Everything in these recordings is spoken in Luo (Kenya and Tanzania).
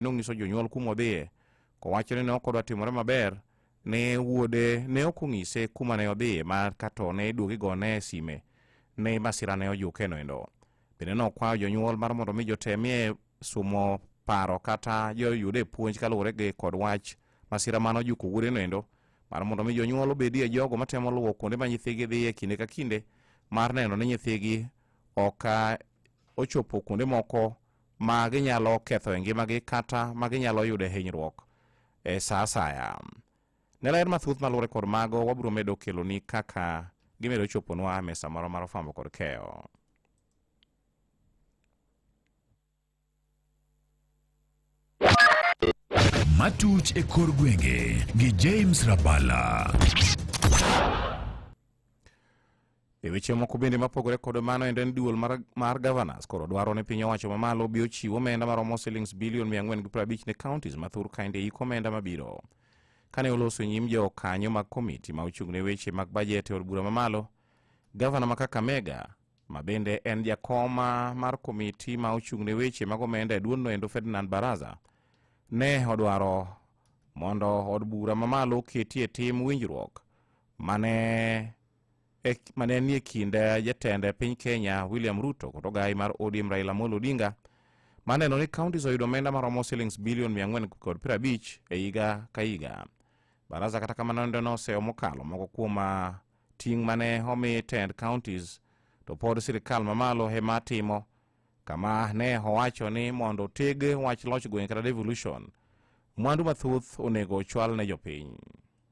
nonyiso jonyuol kuma odhiye. Kowacho ni ne ok odwa timore maber ne wuode ne ok onyise kuma ne odhiye ma kato ne iduogi gone e sime ne masira ne ojuke noendo. Bende nokwayo jonyuol mar mondo mi jotemie sumo paro kata joyude puonj kaluwore gi kod wach masira mane ojuko wuode noendo mar mondo mi jonyuol obedie jogo matemo luwo kuonde ma nyithigi dhiye kinde ka kinde mar neno ni nyithigi ok ochopo kuonde moko ma ginyalo ketho e ngimagi kata ma ginyalo yudo e hinyruok e sa asaya ne ler mathuth maluwore kod mago wabiro medo keloni kaka gimedo choponwa e mesa moro mar fwambo kod keyo matuch e kor gwenge gi James Rabala. E weche moko bende mapogore kod mano endo en duol mar, mar governors koro dwaro ni piny owacho mamalo bi ochiw omenda maromo silings bilion 450 ne counties ma thur kaende yik omenda mabiro. Kane oloso nyim jo kanyo mag komiti ma ochung' ne weche mag bajet e od bura mamalo, gavana ma Kakamega ma bende en jakoma mar komiti ma ochung' ne weche mag omenda e duondno endo Ferdinand Baraza ne odwaro mondo od bura mamalo oketie tim winjruok mane e, ma ne nie kind eh, jatend eh, piny Kenya William Ruto kod ogai mar ODM Raila Amolo Odinga ma neno ni counties oyudo omenda maromo shillings bilion 450 e higa ka higa. Baraza kata kamano nende noseyo mokalo moko kuom ah, ting' mane omi tend counties to pod sirikal mamalo ema timo kama ne owacho ni mondo teg wach loch gweng' kata devolution mwandu mathoth onego ochwal ne jopiny.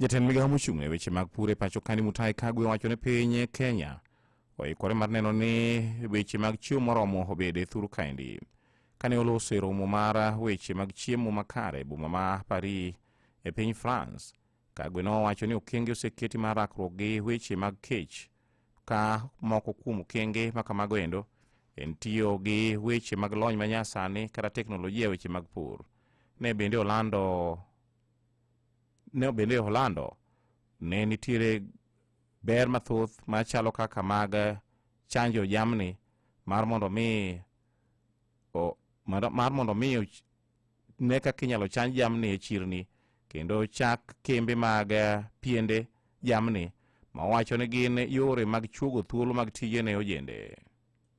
Jatend migawo mochung' ne weche mag pur e pacho kani Mutahi Kagwe wacho ni piny Kenya oikore mar neno ni weche mag chiemo moromo obed e thuru kaendi. Kane oloso e romo mar weche mag chiemo makare e boma ma Paris e piny France, Kagwe nowacho ni okenge oseketi mar rakruok gi weche mag kech ka moko kuom okenge ma kamago endo en tiyo gi weche mag lony manyasani kata teknolojia e weche mag pur. ne bende olando ne bende olando ne nitiere ber mathoth machalo kaka mag chanjo jamni mar mondo mi o- mar mar mondo mi och- ne kaka inyalo chanj jamni e chirni kendo chak kembe mag eh, piende jamni ma wacho ni gin yore mag chuogo thuolo mag tije ne ojende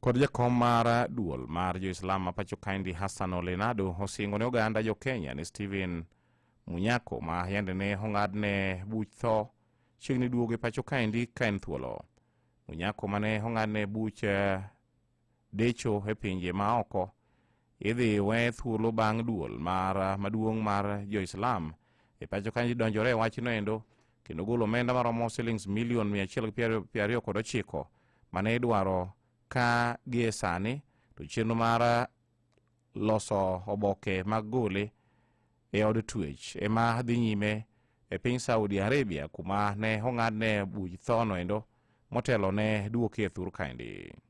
kod jakom mar duol mar jo-Islam ma pacho kaendi Hassan Olenado osingo ne oganda jo-Kenya ni Stephen Munyako ma yande ne ong'adne buch tho chiegni duogo e pacho kaendi ka en thuolo. Munyako ma ne ong'adne buch eh, decho e pinje ma oko idhi we thuolo bang' duol mar maduong' mar jo-Islam e pacho kanji donjore e wachno endo kendo golo omenda maromo silings milion 129 mane idwaro ka gie sani to chenro mar loso oboke mag gole e od twech ema dhi nyime e piny Saudi Arabia kuma ne ong'adne buch thono endo motelo ne duoke thur kaendi.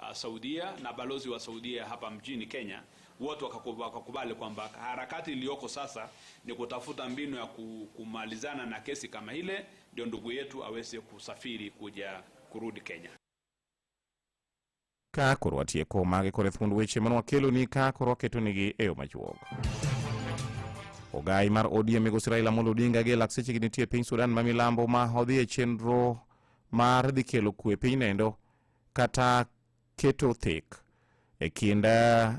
uh, Saudia na balozi wa Saudia hapa mjini Kenya, wote wakakubali kwamba harakati iliyoko sasa ni kutafuta mbinu ya kumalizana na kesi kama ile, ndio ndugu yetu aweze kusafiri kuja kurudi Kenya. ka korwa tieko mage kore thuond weche mane wakeloni ka korwa ketonigi e yo machuok ogai mar odm migosi raila amolo odinga gi lakseche gi nitie piny sudan ma milambo ma odhi e chenro mar dhi kelo kwe pinyno endo kata keto thik e kind eh,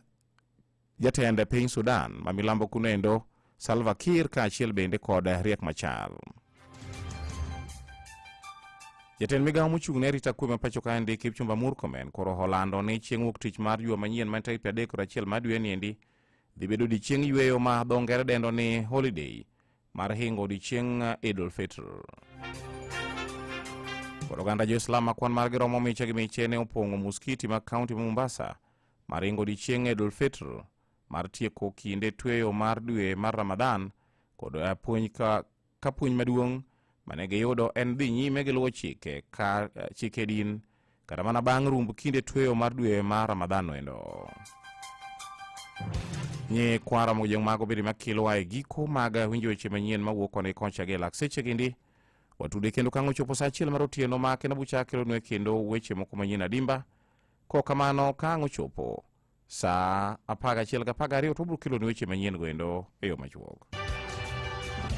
jatend piny Sudan ma milambo kunendo Salva Kiir kaachiel bende kod Riek Machar. Jatend migawo mochung' ne arita kwe ma pacho ka endi Kipchumba Murkomen koro olando ni chieng' wuok tich mar juma manyien ma tarik adek kod achiel mar dwe ni endi dhi bedo odiechieng' yueyo ma dho ngere dendo ni holiday mar hingo odiechieng Idul Fitr. Kod oganda Jo-Islam ma kwan margi romo miche gi miche ne opong'o muskiti mag kaunti ma Mombasa mar hingo odiechieng Idul Fitr mar tieko kinde tweyo mar dwe mar Ramadan kod puonj ka, ka puonj maduong' mane giyudo en dhi nyime gi luwo chike, ka, chike din kata mana bang' rumb kinde tweyo mar dwe mar Ramadhan endo. Nye kwara mojeng mago bende makelo ae giko mag winjo weche manyien mawuok koni kocha gi lak seche gindi watude kendo kang'o chopo sa achiel mar otieno ma kendo bucha kelonwe kendo weche moko manyien adimba ko kamano kang'o chopo saa apar gachiel gapar gariyo to wabiro keloni weche manyien goendo e yo machuok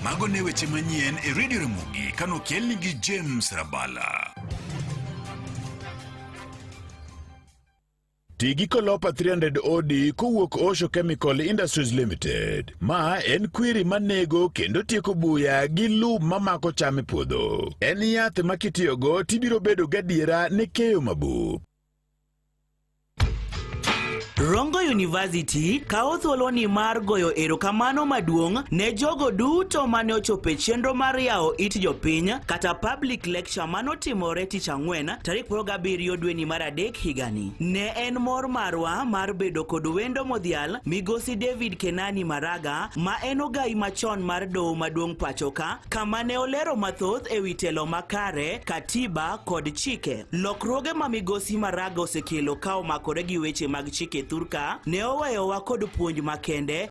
mago ne weche manyien e redio ramogi kanokelni gi james rabala Ti gi Colopa 300 OD kowuok Osho Chemical Industries Limited. Ma en kwiri manego kendo tieko buya gi lum mamako cham e puodho. En yath ma kitiyogo tibiro bedo gadiera ne keyo mabuk. Rongo University kawo thuoloni mar goyo erokamano maduong' ne jogo duto mane ochopo e chenro mar yawo it jopiny kata public lecture manotimore tich ang'wen tarik 17 dweni mar adek higani. Ne en mor marwa mar bedo kod wendo modhial migosi David Kenani Maraga ma en ogayi machon mar doho maduong' pachoka kama ne olero mathoth e wi telo makare, katiba kod chike. Lokruoge ma migosi Maraga osekelo ka omakore gi weche mag chike thurka ne oweyowa kod puonj makende